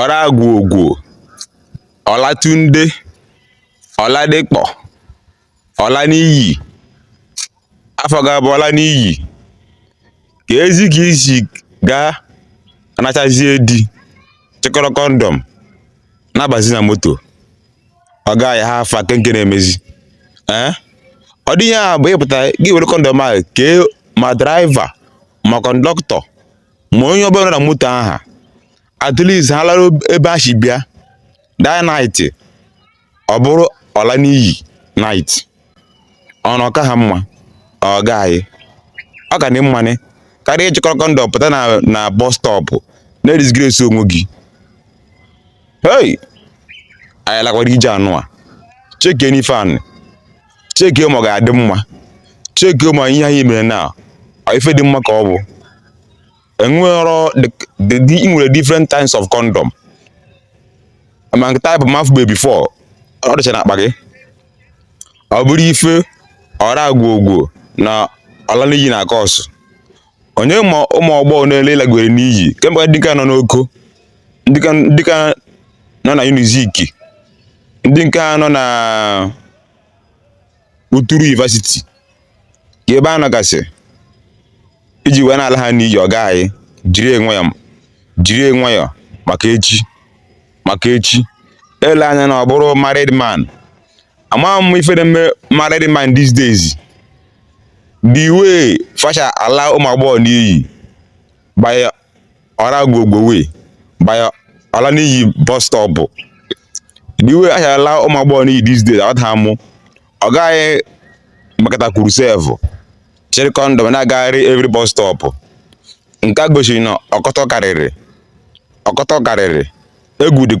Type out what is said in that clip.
Ọragwugwu, Olatunde, Oladipo, Olaniyi, afa gị bụ Olaniyi, kezi ka i si ga-anọchazi e di chịkọrọ kọndọm na-abazi na moto o guy how far ke nke na-emezi ee eh? ọ dịghị ya bụ ị pụta gị were kọndọm ahụ kee ma draiva ma kọndọktọ ma onye ọbụla na moto aha at least ha lara ebe ha si bịa that night ọ bụrụ Olaniyi night ọ na-aka ha mma o guy ọ ka dị mma nụ karịa ịchịkọrọ kọndọm pụta na na bọs stọpụ na-edisgrace onwe gị hei anyị lakwara ije anụwa chekienụ ife a nụ chekie ma ọ ga-adị mma chekie ma ihe anyị mere na ọ ife dị mma ka ọ bụ enwero ị nwere different types of condom ma nke type m afụbe before ọ dịcha n'akpa gị ọ bụrụ ife Ọragwugwu na Olaniyi na-acause onye ma ụmụ agbọ ole ị lagwere n'iyi kemgbe ndị nke nọ n'Oko ndị nke nọ na UNIZIK ndị nke nọ na Uturu University ka ebe ha nọgasị i ji wee na-ala ha n'iyi o guy jiri nwayọọ jiri nwayọọ maka echi maka echi ele anya na ọ bụrụ married man amaghị m ife na-eme married man these days the way fa si ala ụmụ agbọghọ n'iyi by Ọragwugwu ee by Olaniyi bus stop. The way ha si ala ụmụ agbọghọ n'iyi these days aghọtaghị m. O guy makata kwuru sef chịrị kọndọm na-agagharị every bus stop. Nke a gosiri na ọkọtọ karịrị ọkọtọ karịrị egwu dịkwa